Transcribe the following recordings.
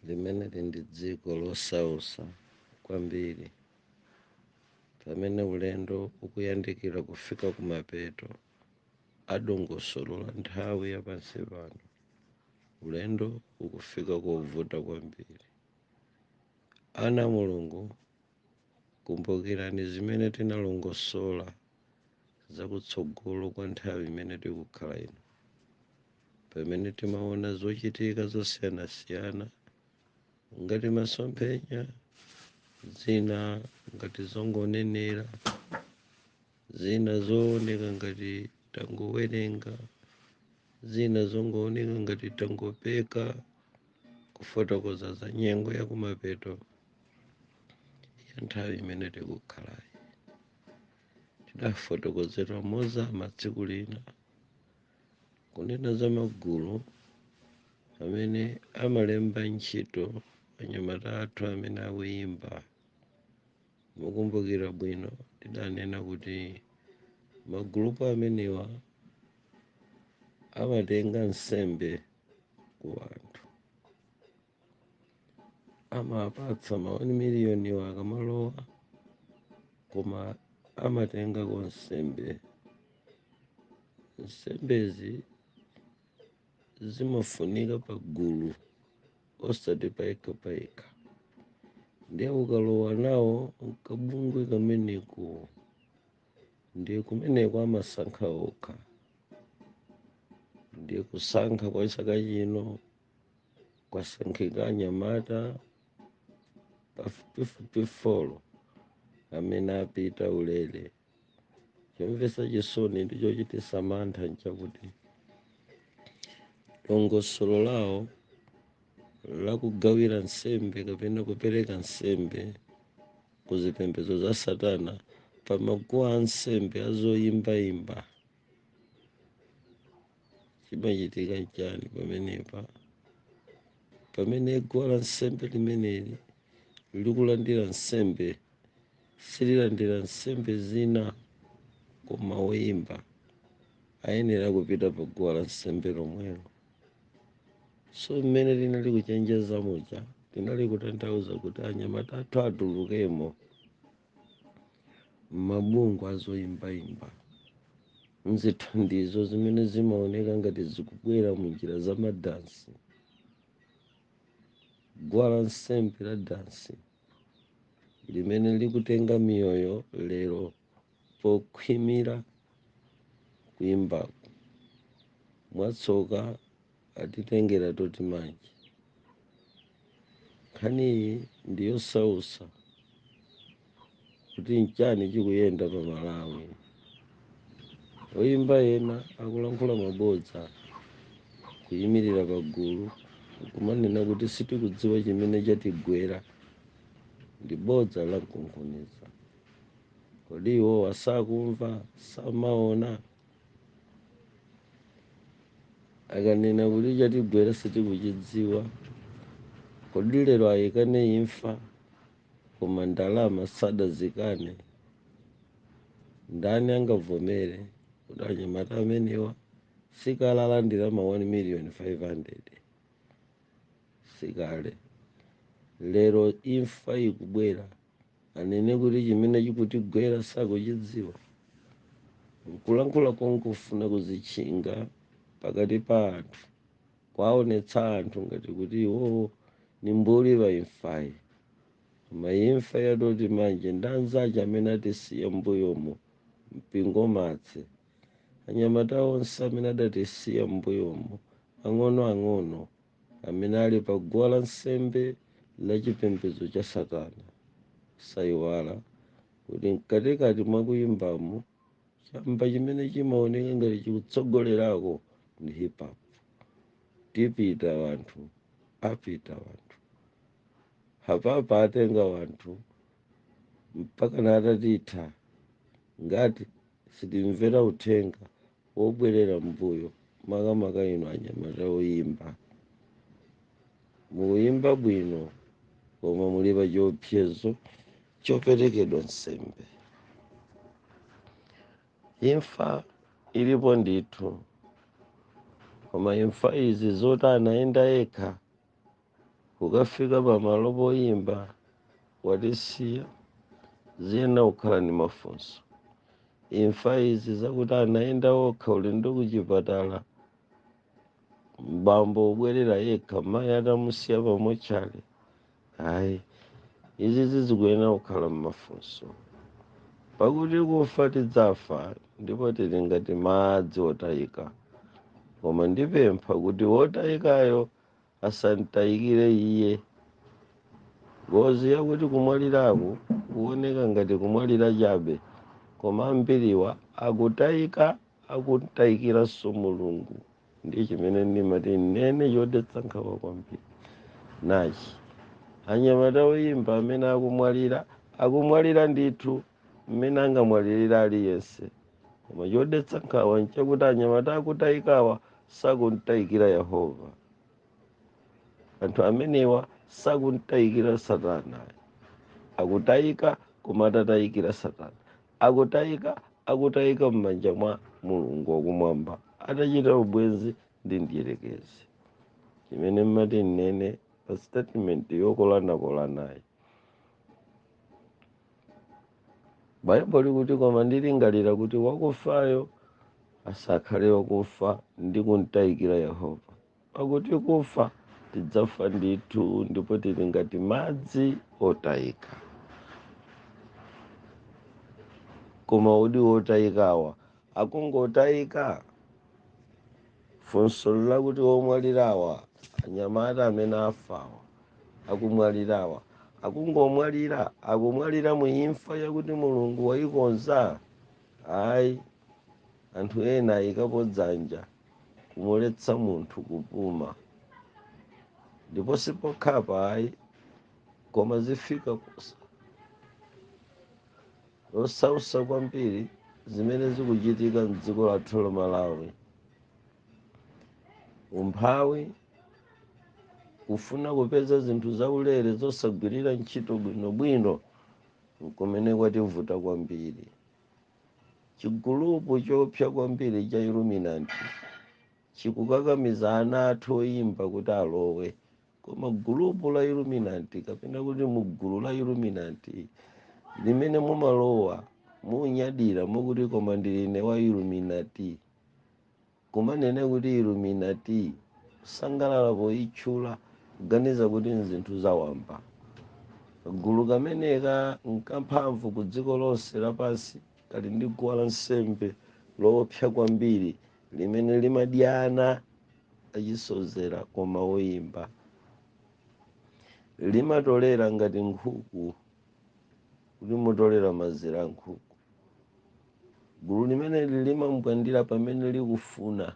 limeneli ndi dziko losausa kwambiri pamene ulendo ukuyandikira kufika kumapeto a dongosolo la nthawi ya pansi pano ulendo ukufika kovuta kwambiri ana a mulungu kumbukirani zimene tinalongosola zakutsogolo kwa nthawi imene tikukhala ino pamene timaona zochitika zosiyanasiyana ngati masomphenya zina ngati zongonenera zina zooneka ngati tangowerenga zina zongooneka ngati tangopeka kufotokoza za nyengo yakumapeto ya nthawi imene tikukhalayi tidafotokozera mozama tsiku lina kunena za magulu amene amalemba ntchito anyamata athu amene akuyimba mukumbukira bwino tidanena kuti magulupu amenewa amatenga nsembe ku anthu amapatsa ma 1 miliyoniwo akamalowa koma amatengako nsembe nsembezi zimafunika pa gulu osati payekha payekha ndiye ukalowa nawo kabungwe kameneko ndiye kumeneko amasankha okha ndiye kusankha kwa chaka chino kwasankhika anyamata pafupifupi folo amene apita ulere chomvetsa chisoni ndi chochititsa mantha nchakuti dongosolo lawo lakugawira nsembe kapena kupereka nsembe ku zipembedzo za satana pamaguwa a nsembe azoyimbayimba chimachitika nchani pamenepa pamene guwa la nsembe limeneli likulandira nsembe sililandira nsembe zina koma woyimba ayenera kupita pa guwa la nsembe lomwelo so mmene linali kuchenjeza muja linali kutanthauza kuti anyamata athu atulukemo m'mabungwe azoyimbayimba mzithandizo zimene zimaoneka ngati zikubwera mu njira za madansi guwa la nsembe la dansi limene likutenga miyoyo lero pokhwimira kuyimbako mwatsoka atitengera toti matafale nkhaniyi ndi yosausa kuti nchani chikuyenda pa malawi oyimba ena akulankhula mabodza kuyimirira pagulu kumanena kuti sitikudziwa chimene chatigwera ndi bodza lamkunkhuniza kodi iwowa sakumva samaona akanena kuti chatigwera sitikuchidziwa kodi lero ayikane imfa koma ndalama sadayikane ndani angavomere kuti anyamata amenewa sikale alandira ma 1 million 500 sikale lero imfa ikubwera anene kuti chimene chikutigwera sakuchidziwa nkulankhula kongofuna kudzitchinga pakati pa anthu kwaonetsa anthu ngati kuti iwowo ni mbuli pa imfayi koma imfa ya toti manje ndi anzace amene atisiya m'mbuyomo mpingo matse anyamata onse amene adatisiya m'mbuyomo ang'onoang'ono amene ali pa guwa la nsembe la chipembedzo cha satana sayiwala kuti mkatikati mwa kuyimbamo chamba chimene chimaoneka ngati chikutsogolerako ndi hip hop tipita wanthu apita wanthu hapapa atenga wanthu mpaka atatitha ngati sitimvera uthenga wobwerera mbuyo makamaka inu anyamata oyimba mukuyimba bwino koma muli pa chiopsezo choperekedwa nsembe imfa ilipo ndithu koma imfa izi zoti anayenda yekha kukafika pamalo poyimba watisiya ziyenera kukhala ndi mafunso imfa izi zakuti anayenda okha ulendo kuchipatala bambo abwerera yekha mayi atamusiya pa mortuary ayi izi zikuyenera kukhala mmafunso pakuti kufa tidzafa ndipo tili ngati madzi otayika koma ndipempha kuti wotayikayo asantayikire iye ngozi ya kuti kumwaliraku kuoneka ngati kumwalira chabe koma ambiriwa akutayika akumtayikiranso mulungu ndi chimene ndimati ninene chodetsa nkhawa kwambiri nachi anyamata oyimba amene akumwalira akumwalira ndithu mmene angamwalirire aliyense koma chodetsa nkhawa nchakuti anyamata akutayikawa sakumtayikira yehova anthu amenewa sakumtayikira satana akutayika koma atatayikira satana akutayika akutayika m'manja mwa mulungu wakumwamba atachita ubwenzi ndi mdierekezi chimene mmati ndinene pa statement yokolanakolanayi baibulo likuti koma ndilingalira kuti wakufayo asakhale wakufa ndi kumtayikira yehova pakuti kufa tidzafa ndithu ndipo tili ngati madzi otayika koma kodi wotayikawa akungotayika Funso nlakuti, Omwalirawa, anyamata amene afawa, akumwalirawa, akungomwalira? Akumwalira mu imfa yakuti Mulungu waikonza? Ayi. Anthu ena ayikapo dzanja kumuletsa munthu kupuma. Ndipo sipokhapa ayi, koma zafika posa. losausa kwambiri zimene zikuchitika mdziko lathu la malawi umphawi kufuna kupeza zinthu zaulere zosagwirira ntchito bwinobwino nkumene kwativuta kwambiri chigulupu chopsa kwambiri cha illuminati chikukakamiza ana athu oyimba kuti alowe koma gulupu la illuminati kapena kuti mugulu la illuminati limene mumalowa munyadira mukuti koma ndili ine wa illuminati kumanena kuti illuminati kusangalala poyitchula kuganiza kuti nzinthu zawamba kagulu kameneka nkamphamvu ku dziko lonse lapansi kali ndi guwa la nsembe loopsa kwambiri limene limadya ana achisodzera koma woyimba limatolera ngati nkhuku ikutolera mazira a nkhuku gulu limeneli limankwandira pamene likufuna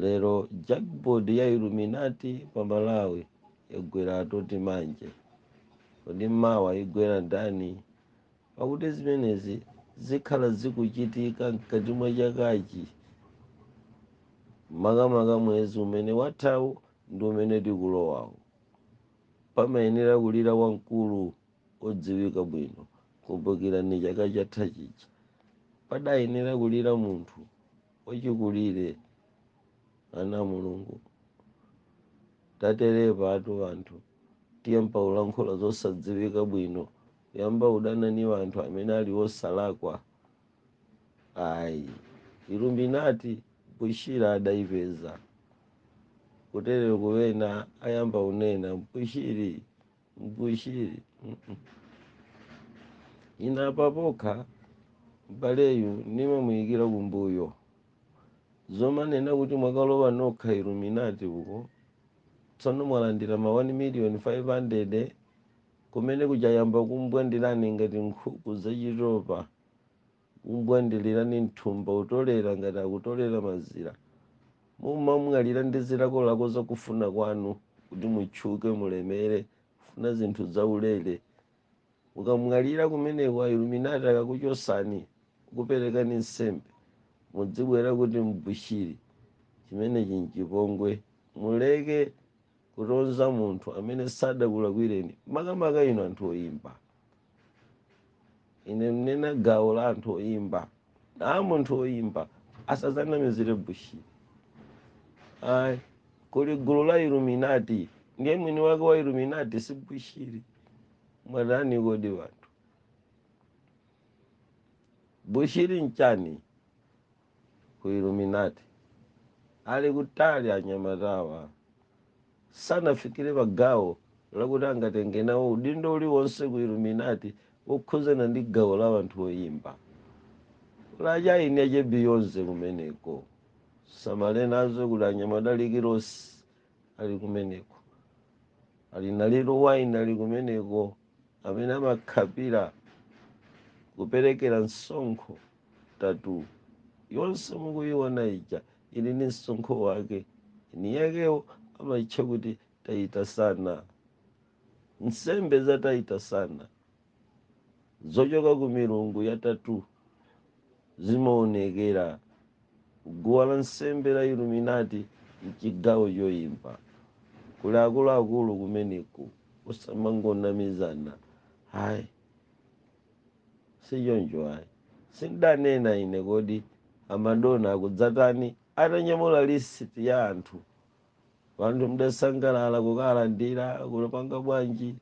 lero jackpot ya illuminati pa malawi yagwera atoti manje kodi mawa igwera ndani Pakuti zimenezi zikhala zikuchitika mkati mwa chakachi, makamaka mwezi umene wathawu ndi umene tikulowawu. Pamayenera kulira wamkulu wodziwika bwino. Kumbukirani chaka chatha chija, padayenera kulira munthu wachikulire, ana a Mulungu. Taterepatu anthu tiyamba ulankhula zosadziwika bwino yamba udana ni wanthu amene ali wosalakwa ayi iluminati bushira adaipeza kuterero kuwena ayamba unena mbushiri mbushiri mm -mm. ina apa pokha m'baleyu nimamuyikira kumbuyo zomanena kuti mwakalowa nokha iluminati uko tsono mwalandira ma 1 million 500 Kumeneku chayamba kumbwandirani ngati nkhuku zachitopa, kumbwandilirani mthumba kutolera ngati akutolera mazira. Mumamwalira ndi zilakolako za kufuna kwanu kuti mutchuke, mulemere, kufuna zinthu zaulere. Mukamwalira kumeneko a Illuminati akakuchosani, kukuperekani nsembe, mudzibwera kuti Bushiri. Chimenechi nchipongwe. Muleke. kutonza munthu amene sadakulakwireni makamaka inu anthu oyimba ine mnena gawo la anthu oyimba na munthu oyimba asazanamizire bushiri ayi kuli gulu la iluminati ndiye mwini wake wa iluminati si bushiri mwatani kodi wanthu bushiri nchani ku illuminati ali kutali anyamatawa sanafikire pa gawo lakuti angatenge nawo udindo uliwonse ku illuminati wokhuzana ndi gawo la anthu oyimba la chaini yache beyonce kumeneko samala nazo kuti anyamata Rick Ross ali kumeneko ali na Lil Wayne ali kumeneko amene amakhapira kuperekera msonkho tattoo yonse mukuyiona ija ili ni msonkho wake ni yakewo amayitcha kuti tayita sana nsembe za tayita sana zochoka ku milungu ya tattoo zimaonekera guwa la nsembe la iluminati mchigawo choyimba kuli akuluakulu kumeneku osamangonamizana hayi sichoncho ayi sindanena ine kodi a Madonna akudzatani atanyamula list ya anthu anthu mdasangalala kukalandira kupanga bwanji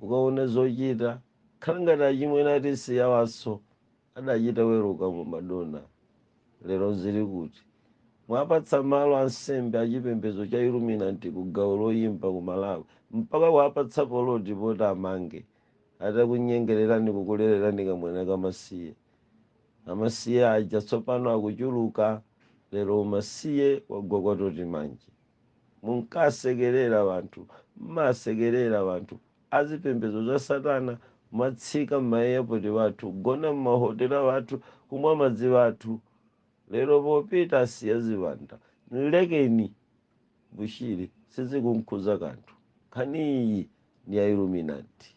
ukaona zochita khala ngati achimwene ati siyawanso adachita weruka mu Madonna lero zili kuti mwapatsa malo ansembe achipembedzo cha iluminati ku gawo loyimba ku malawi mpaka kuwapatsa poloti poti amange atakunyengererani kukulererani kamwana kamasiye. Amasiye aja tsopano akuchuluka, lero umasiye wagwa kwa toti manje. Munkasekerera wanthu, mmasekerera wanthu azipembedzo za satana kumatsika mma airport wathu, kugona mma hotela wathu, kumwa madzi wathu. Lero popita asiya ziwanda. Nlekeni. bushiri sizikumkhudza kanthu nkhaniyi ndi ya illuminati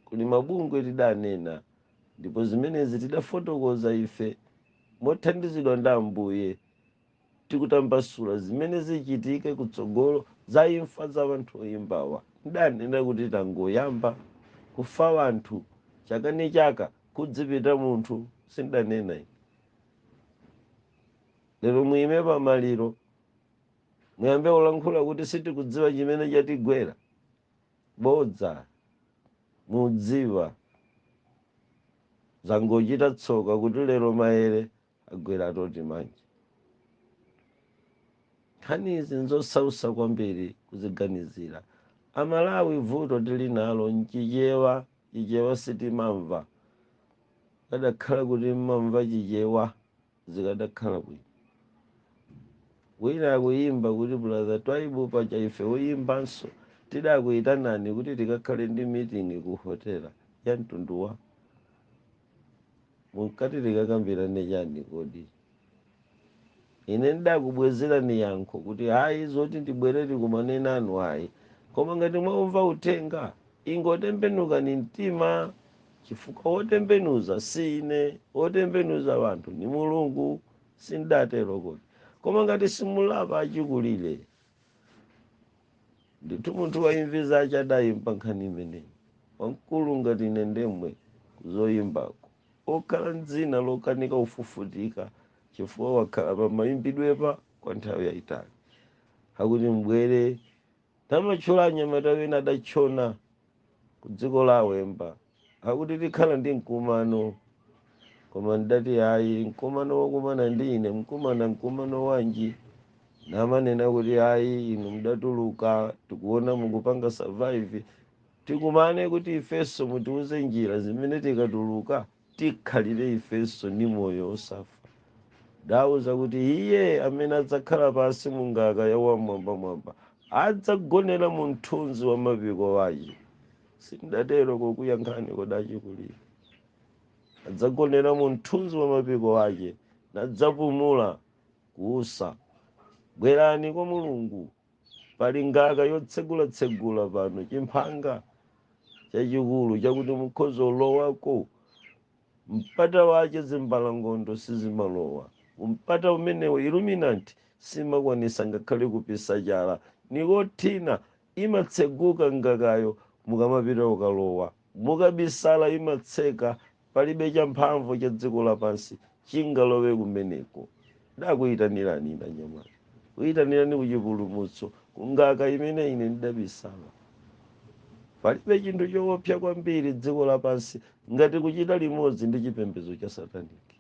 kuli mabungwe tidanena ndipo zimenezi tidafotokoza ife mothandizidwa ndi ambuye tikutambasula zimene zichitike kutsogolo za imfa za anthu oyimbawa ndidanena kuti tangoyamba kufa anthu chaka ni chaka kudzipita munthu sindanena ine lero muyime pamaliro muyambe kulankhula kuti sitikudziwa chimene chatigwera bodza mudziwa zangochita tsoka kuti lero maere agwera atoti manje nkhani izi nzosausa kwambiri kuziganizira amalawi vuto tili nalo nchichewa chichewa sitimamva kadakhala kuti mmamva chichewa zikadakhala bwino wina akuyimba kuti brother twaibu paja ife oyimbanso tidakuyitanani kuti tikakhale ndi meeting ku hotela ya mtundu wa munkati tikakambirane chani kodi ine ndakubwezerani yankho kuti ayi zoti ndibwere tikumane nanu ayi koma ngati mwaumva uthenga ingotembenukani mtima chifukwa wotembenuza si ine wotembenuza wanthu ni mulungu sindatero kodi koma ngati simulapa achikulire ndithu munthu waimvi zace adayimba nkhani imeneyi wamkulu ngati ine ndemwe kuzoyimbako okhala ndzina lokanika ufufutika chifukwa wakhala pamayimbidwepa kwa nthawi yayitali akuti mbwere Tamatchula anyamata wena adatchona ku dziko la Awemba akuti tikhala ndi mkumano koma ndati hayi mkumano wokumana ndi ine mkumana mkumano wanji? Namanena kuti hayi inu mudatuluka tikuona mukupanga survive tikumane kuti ifenso mutiuze njira zimene tikatuluka tikhalire ifenso ndi moyo wosafa. Ndawauza kuti, Iye amene adzakhala pansi mu ngaka ya Wam'mwambamwamba, adzagonera mu mthunzi wa mapiko ace. Sindatero kukuyankhani kodi acikulire? Adzagonera mu mthunzi wa mapiko ace, nadzapumula kuusa. Bwerani kwa Mulungu. pali ngaka yotsegulatsegula pano chimphanga chachikulu chakuti mukhoza ulowako mpata wache zimbalangondo sizimalowa mpata umenewo Illuminati simakwanisa ngakhale kupisa chala nikothina imatseguka ngakayo mukamapita ukalowa Mukabisala imatseka, palibe champhamvu cha dziko lapansi chingalowe kumeneko. Ndakuyitanirani inu anyamata, kuyitanirani ku chipulumutso, ku ngaka imene ine ndidabisala. Palibe chinthu chowopsa kwambiri dziko lapansi ngati kuchita limodzi ndi chipembedzo cha sataniki.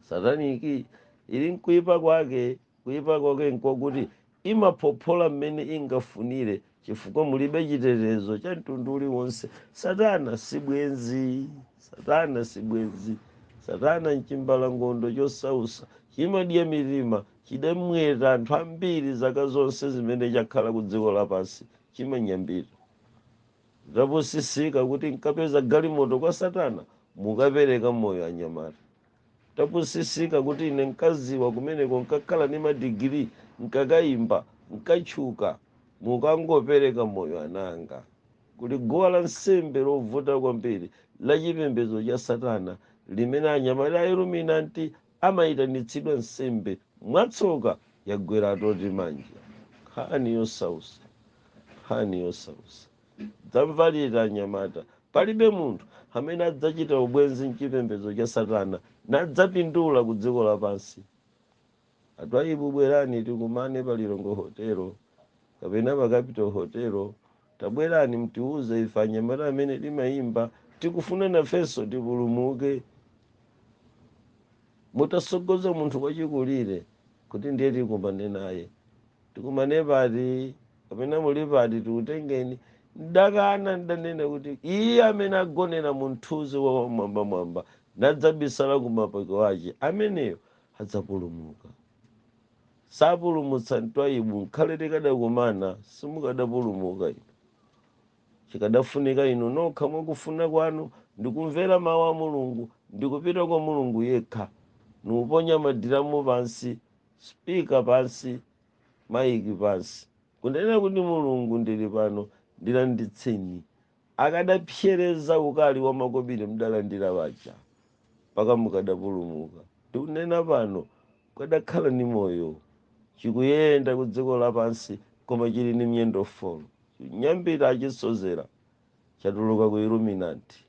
Sataniki ili nkuyipa kwake, kuyipa kwake nkokuti Imaphophola mmene ingafunire chifukwa mulibe chitetezo cha mtundu uliwonse. Satana si bwenzi. Satana si bwenzi. Satana n'chimbalangondo chosausa. Chimadya mitima. Chidamweta anthu ambiri zaka zonse zimene chakhala kudziko lapansi. Chimanyambita. Tapusisika kuti nkapeza galimoto kwa satana mukapereka moyo anyamata. Tapusisika kuti ine nkadziwa kumeneko nkakhala ndi ma degree nkakaimba nkatchuka mukangopereka moyo ana anga kuli guwa la nsembe lovuta kwambiri la chipembedzo cha satana limene anyamata a Illuminati amaitanitsidwa nsembe mwatsoka yagwera atoti manja nkhani yosausa nkhani yosausa. dzamvalira anyamata palibe munthu amene adzachita ubwenzi mchipembedzo cha satana nadzapindula ku dziko lapansi a Twaibu bwerani tikumane pa Lilongwe hotelo kapena pa Capital hotelo tabwerani mtiuze ife anyamata amene timayimba tikufuna nafenso tipulumuke mutasogoza munthu wachikulire kuti ndiye tikumane naye Tikumane pati? Kapena muli pati tikutengeni? Ndakana, ndanena kuti, Iye amene agonera mu mthunzi wa Wam'mwambamwamba, nadzabisala ku mapiko ache, ameneyo adzapulumuka. Sapulumutsa Twaibu, nkhale tikadakumana simukadapulumuka inu. Chikadafunika inu nokha mwa kufuna kwanu ndi kumvera mau a Mulungu ndi kupita kwa Mulungu yekha, nikuponya madiramu pansi Speaker pansi, maiki pansi. Kunena kuti Mulungu ndili pano ndilanditseni. Akadapsereza ukali wa makobiri mdalandira aja, mpaka mukadapulumuka. Ndikunena pano, mukadakhala ndi moyo. Chikuyenda ku dziko lapansi koma chili ndi miyendo folo. Chinyambita achisodzera chatuluka ku Illuminati.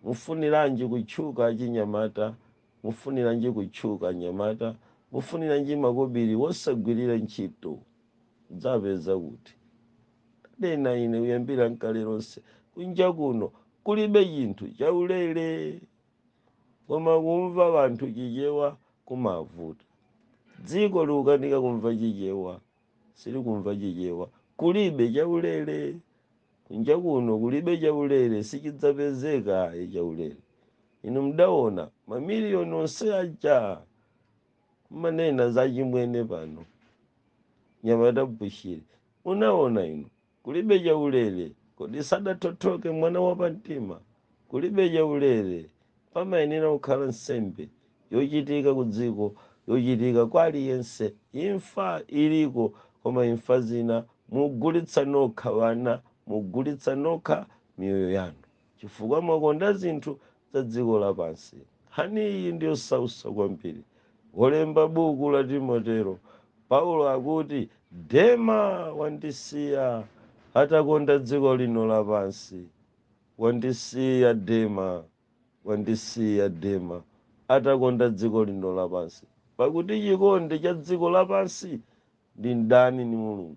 Mufuniranji kutchuka achinyamata? Mufuniranji kutchuka anyamata? Mufuniranji makobiri wosagwirira ntchito? Mudzawapeza kuti? Ndanena ine kuyambira nkale lonse, kunja kuno kulibe chinthu chaulere. Koma kumva wanthu Chichewa kumavuta. Dziko likukanika kumva Chichewa. silikumva chichewa kulibe chaulere kunja kuno kulibe chaulere sichidzapezeka ayi chaulere inu mdaona mamiliyoni onse aja mmanena za chimwene pano mnyamata Bushiri munaona inu Kulibe chaulere, kodi sadathothoke mwana wa pamtima? Kulibe chaulere, pamayenera kukhala nsembe yochitika kudziko, yochitika kwa aliyense. Imfa iliko, koma imfa zina mugulitsa nokha wana, mugulitsa nokha miyoyo yanu. chifukwa mwakonda zinthu za dziko lapansi. Nkhani iyi ndi yosausa kwambiri. Wolemba buku la Timoteyo, Paulo akuti, Dema wandisiya atakonda dziko lino lapansi. Wandisiya Dema, wandisiya Dema atakonda dziko lino lapansi, pakuti chikondi cha dziko lapansi ndi mdani ndi Mulungu.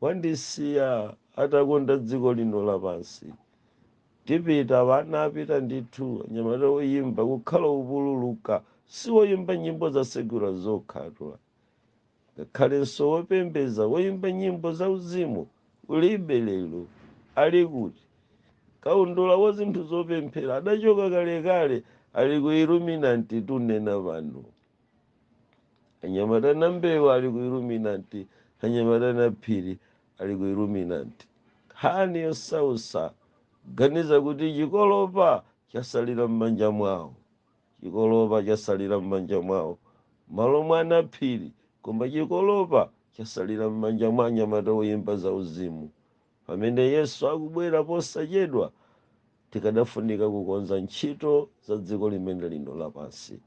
Wandisiya atakonda dziko lino lapansi. Tipita wana apita ndithu anyamata oyimba kukhala opululuka si oyimba nyimbo za secular zokhatu. Ngakhalenso wopembeza oyimba nyimbo za uzimu kulibe lero ali kuti? Kaundula wa zinthu zopemphera adachoka kalekale ali ku Illuminati tunena pano. anyamata ana a mbewe ali ku illuminati anyamata ana a phiri ali ku illuminati nkhani yosausa ganiza kuti chikolopa chasalira m'manja mwawo chikolopa chasalira m'manja mwawo malo mwa ana a phiri koma chikolopa chasalira m'manja mwa anyamata oyimba za uzimu Pamene Yesu akubwera posachedwa, tikadafunika kukonza ntchito za dziko limene lino lapansi.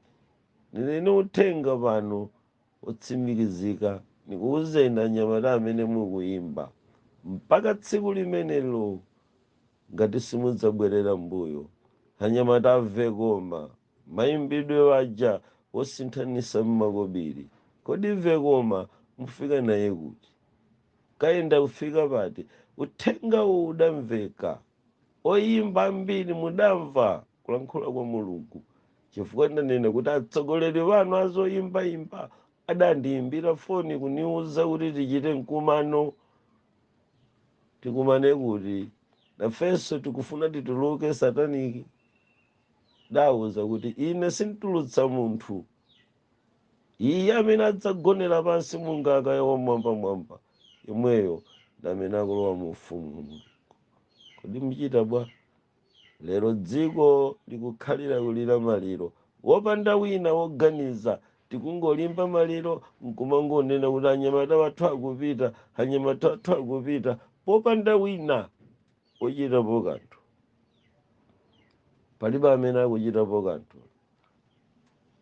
Nili ni uthenga pano wotsimikizika, nikuuzeni anyamata amene mukuimba, mpaka tsiku limenelo, ngati simudzabwerera m'mbuyo, anyamata amve koma! Mayimbidwe paja wosinthanisa mmakobili kodi mve koma mufika naye kuti? Kayenda kufika pati? Uthengawu udamveka? Oyimba ambili mudamva kulankhula kwa Mulungu chifukwa ndanena kuti atsogoleli wanu azoyimba yimba adandiyimbila foni kuniwuza kuti tichite nkumano tikumane kuti nafenso tikufuna tituluke sataniki. ndawauza kuti ine sinditulutsa munthu iye amene adzagonera pansi mu ngaka ya wamwambamwamba yemweyo ndamene akulowa mu ufumu wa mulungu kodi muchita bwa lero dziko likukhalira kulira maliro wopanda wina woganiza tikungolimba maliro nkumangonena kuti anyamata wathu akupita anyamata wathu akupita popanda wina wochitapo kanthu palibe amene akuchitapo kanthu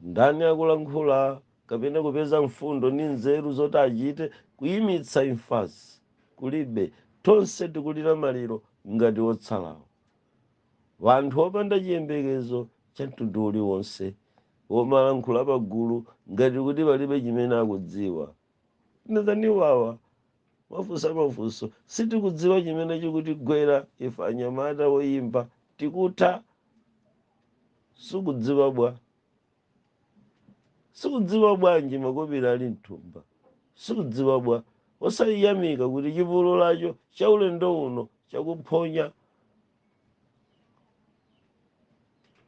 ndani akulankhula kapena kupeza mfundo ndi nzeru zoti achite kuyimitsa imfazi kulibe tonse tikulira maliro ngati otsalawo wanthu opanda chiyembekezo cha mtundu uliwonse womalankhula pagulu ngati kuti palibe chimene akudziwa ndizani wawa Mwafunsa mafunso sitikudziwa chimene chikutigwera ife anyamata woyimba tikutha sukudziwa bwa? Sukudziwa bwanji makobili ali mthumba? Sukudziwa bwa? Osayiyamika kuti chipolopolocho cha ulendo uno chakuphonya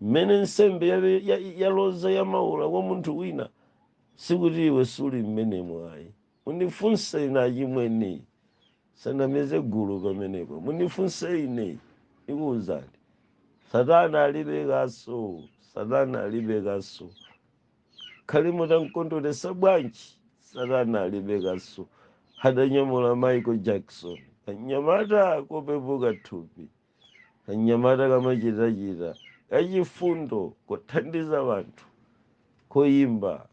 mmene nsembe yaloza yamaula kwa munthu wina sikuti iwe suli mmenemo ayi Munifunse ine achimwene, musanamize gulu pamenepo. Munifunse ine, ndikuwuzani. Satana alibe kaso, Satana alibe kaso. Khali mutamkondweresa bwanji, Satana alibe kaso. Adanyamula Michael Jackson, kanyamata kopepuka thupi. kanyamata kamachitachita kachifundo kothandiza wanthu koyimba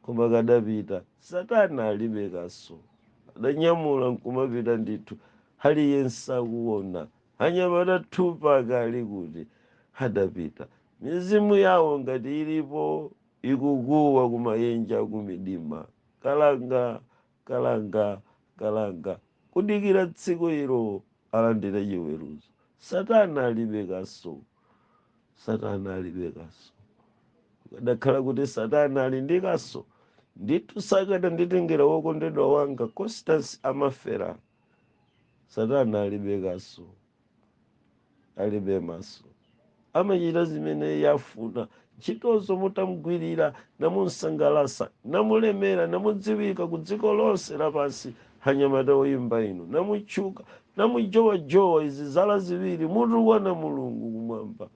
koma kadapita satana alibe kaso adanyamula nkumapita ndithu aliyense akuona anyamata thupa kali kuti adapita mizimu yawo ngati ilipo ikukuwa kumayenje kumidima kalanga Kalanga, kalanga, kudikira tsiku ilo alandire chiweruzo. Satana alibe kaso. Satana alibe kaso. Kukadakhala kuti Satana ali ndi kaso, ndithu sakadanditengera wokondedwa wanga Constance Amafera. Satana alibe kaso. alibe maso amachita zimene iye afuna ntchitozo mutamgwirira namumsangalasa namulemera namudziwika ku dziko lonse lapansi anyamata oyimba inu namutchuka namujowajowa izi zala ziwiri mutukwana mulungu kumwamba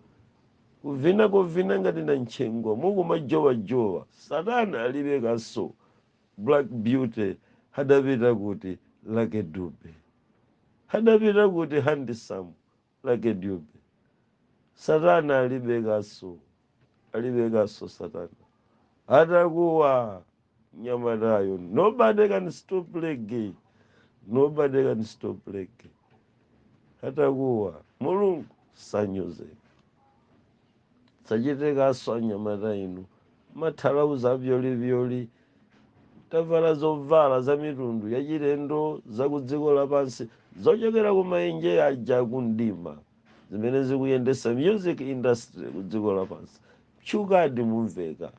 kuvina kovina ngati nantchengwa mukumajowajowa satana alibe kaso Black beauty hadapita kuti lucky dube hadapita kuti handsome lucky dube satana alibe kaso alibe kaso satana atakuwa nyamatayo nobody can stop lege nobody can stop lege atakuwa mulungu sanyozeka sachite kaso anyamata inu mathalauza avyolivyoli tavala zovala za mitundu yachilendo za ku dziko lapansi zochokera ku maenje aja akumdima zimene zikuyendetsa music industry ku dziko lapansi mtchukadi mumveka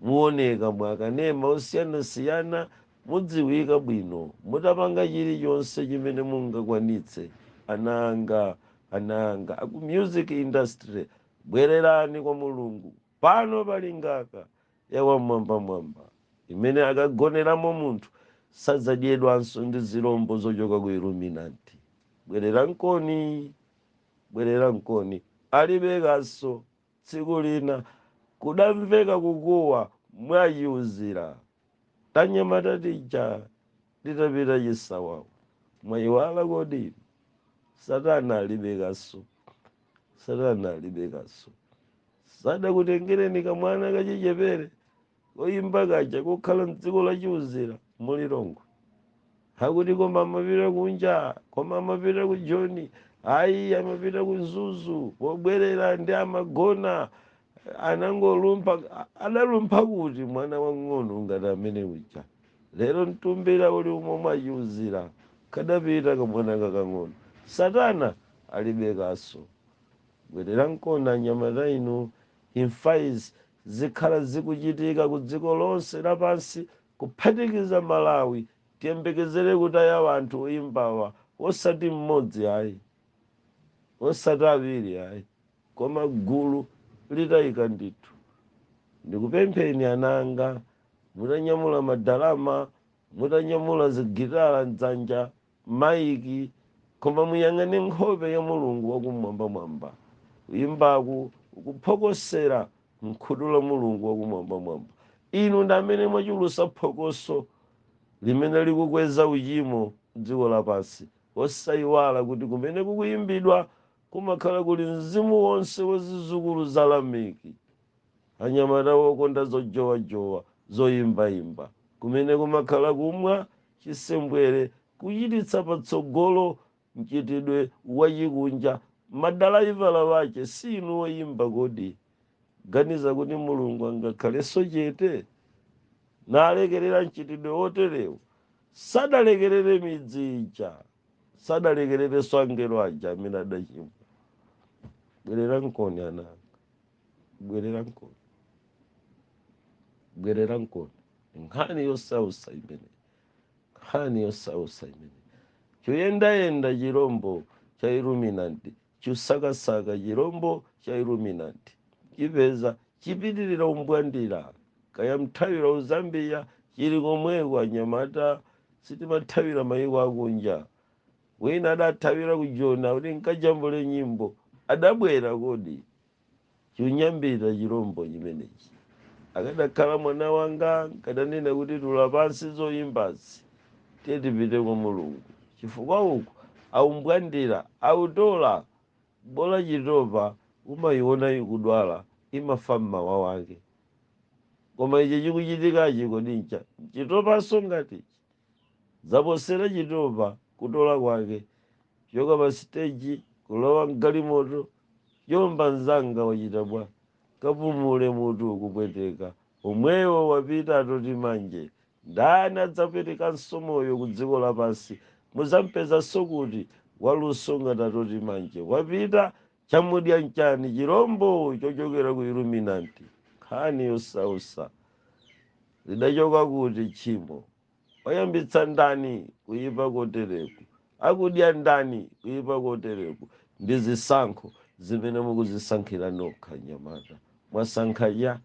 Muoneka mu akanema osiyanasiyana, mudziwika bwino, mutapanga chilichonse chimene mungakwanitse, ana anga, ana anga aku music industry bwererani kwa Mulungu pano pali ngaka ya wam'mwambamwamba imene akagoneramo munthu sadzadyedwanso ndi zilombo zochoka ku Illuminati. Bwererankoni, bwererankoni alibe kaso. Tsiku lina kudamveka kukuwa mwa Chiuzira. Tanyamata tija titapita chisawawa. Mwayiwala kodi? Satana alibe kaso. Satana alibe kaso. Sadakutengereni kamwana kachichepere koyimba kaja kokhala mdziko la chiuzira mu lilongwe akuti koma amapita kunja koma amapita ku joni ayi amapita ku mzuzu pobwerera ndi amagona anangolumpha adalumpha kuti mwana wang'ono ngati amene uja lero mtumbira uli umo mwa chiuzira kadapita kamwana kakang'ono satana alibe kaso bwererankoni anyamata inu imfa izi zikhala zikuchitika ku dziko lonse lapansi kuphatikiza malawi tiyembekezere kutaya wanthu oyimbawa wosati mmodzi ayi wosati awiri ayi koma gulu litayika ndithu ndikupempheni ana anga mutanyamula madalama mutanyamula zigitala mdzanja maiki, koma muyang'ane nkhope ya Mulungu wa Kumwambamwamba. Kuyimbaku kukuphokosera mkhutu la Mulungu wa Kumwambamwamba. Inu ndi amene mwachulusa phokoso limene likukweza uchimo mdziko lapansi, osayiwala kuti kumene kukuyimbidwa kumakhala kuli mzimu wonse wa zizukulu za Lameki, anyamata wokonda zojowajowa, zoyimbayimba, kumene kumakhala kumwa chisembwere, kuchititsa patsogolo mchitidwe wachikunja, madalaivala wache si inu oyimba kodi? Muganiza kuti Mulungu angakhalenso chete? Nalekerera mchitidwe woterewu? Sadalekerere midzi ija, sadalekererenso angelo aja amene adachimwa. Bwererankoni ana anga. bwererankoni bwererankoni nkhani yosausa imene nkhani yosausa imene choyendayenda chirombo cha iluminanti chosakasaka chirombo cha iluminanti chipeza chipitirira umbwandira kaya mthawira uzambiya chili komweko anyamata sitimathawira mayiko akunja wina adathawira ku joni kuti nkajambule nyimbo adabwera kodi chinyambita chilombo chimenechi akadakhala mwana wanga nkadanena kuti tula pansi zoyimbazi tiye tipite kwa mulungu chifukwa uku aumbwandira autola bola chitopa umayiona ikudwala imafa mmawa wake koma ichi chikuchitikachi kodi ncha chitopanso ngati ichi Zaposera chitopa kutola kwake. Kuchoka pa siteji, kulowa m'galimoto, Jomba mzanga wachita bwa? Kapumule mutu ukupweteka. Omwewo wapita Atoti Manje. Ndani adzapwetekanso moyo ku dziko lapansi? Muzampezanso kuti? Waluso ngati Atoti Manje. Wapita chamudya nchani chirombo chochokera ku iluminanti nkhani yosausa lidachoka kuti tchimo wayambitsa ndani kuyipa kotereku akudya ndani kuyipa kotereku ndi zisankho zimene mukuzisankhira nokha anyamata mwasankha cha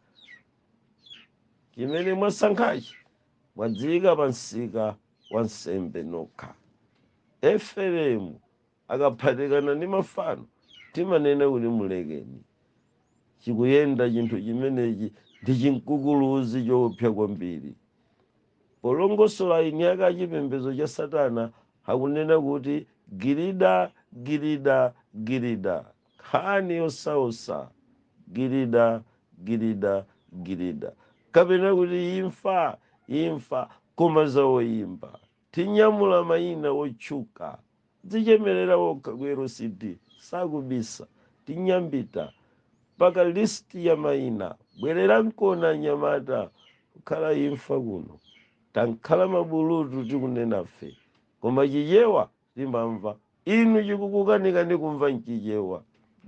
chimene mwasankhachi mwadziyika pa msika wa nsembe nokha eferemu akaphatikana ndi mafano timanena kuti mulekeni chikuyenda chinthu chimenechi ndi chinkukuluzi choopsa kwambiri polongosola eni ake a chipembedzo cha satana akunena kuti girida girida girida nkhani yosausa girida girida girida kapena kuti imfa imfa koma za oyimba Tinyamula maina otchuka, Dzichemelera okha ku LCD sakubisa, tinyambita mpaka list ya maina, bwelerankoni anyamata kukhala imfa kuno, tankhala mabulutu tikunenafe koma chichewa timamva. Inu chikukukanikani kumva m'Chichewa,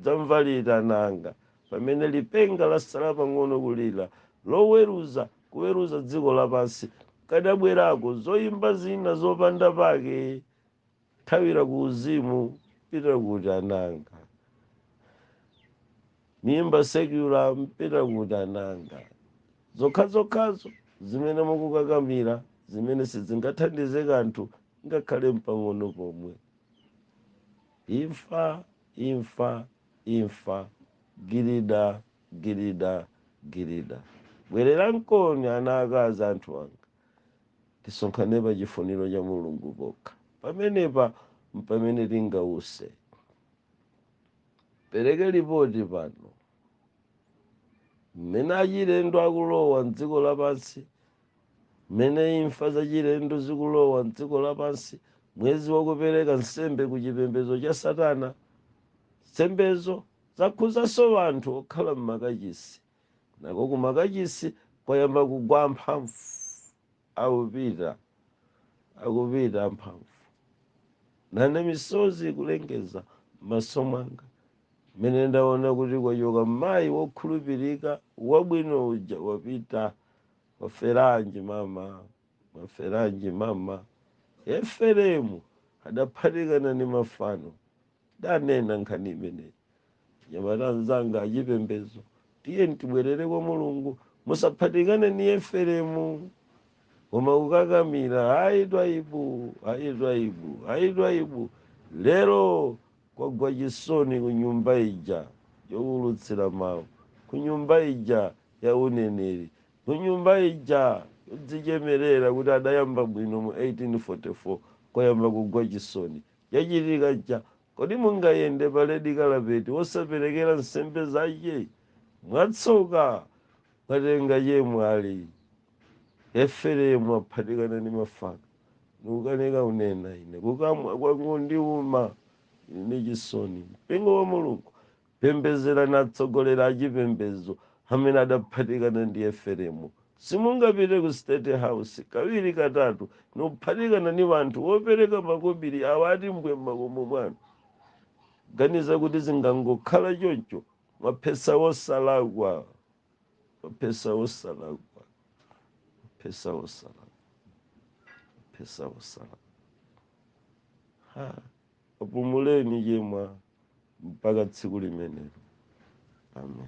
dzamva liti ana anga, pamene lipenga latsala pang'ono kulira, loweruza kuweruza dziko lapansi, kadabwerako, zoimba zina zopanda pake, thawira kuuzimu, pita kuti ana anga? Muimba secular mpita kuti ana anga? Zokhazokhazo zimene mukukakamira zimene sizingathandize kanthu ngakhale mpang'ono pomwe. Imfa, imfa, imfa, girida, girida, girida. Bwererankoni ana akazi, anthu anga. Tisonkhane pa chifuniro cha Mulungu pokha. Pamenepa mpamene tingause. Pereke lipoti pano. Mmene achilendo akulowa m'dziko lapansi, mmene imfa zachilendo zikulowa m'dziko lapansi, mwezi wakupereka nsembe ku chipembedzo cha Satana. Nsembezo zakhuzanso anthu okhala m'makachisi. Nako kumakachisi kwayamba kugwa amphamvu. Akupita, akupita amphamvu, nane misozi ikulengeza m'maso mwanga, m'mene ndaona kuti kwachoka mayi wokhulupirika wabwino uja wapita. Mwaferanji mama, mwaferanji mama? Efereimu adaphatikana ni mafano, Ndanena nkhani imeneyi anyamata anzanga achipembedzo, tiyeni tibwerere kwa Mulungu, musaphatikane ni Efereimu. Koma kukakamira, ayi Twaibu, ayi Twaibu, ayi Twaibu, lero kwagwa chisoni ku nyumba ija yowulutsira mawu, ku nyumba ija ya uneneri, ku nyumba ija yodzichemerera kuti adayamba bwino mu 1844, kwayamba kugwa chisoni. chachitika cha Kodi mungayende pa red carpet wosaperekera nsembe zache? Mwatsoka, mwatenga chemwali. Efereimu aphatikana ni mafano, nukanika unena, Ine kukamwa kwangondiuma, ndili ndi chisoni. Mpingo wa Mulungu, Pembedzerani atsogoleri achipembedzo amene adaphatikana ndi Efereimu. Simungapite ku State House kawiri katatu nikuphatikana ni wanthu wopereka makobiri awa ati mbwee m'makomo mwanu. Kuganiza kuti zingangokhala choncho, mwaphesa wosalakwa, mwaphesa wosalakwa, mwaphesa wosalakwa, mwaphesa wosalakwa. Ha! Apumuleni chemwa. mpaka tsiku limenelo amen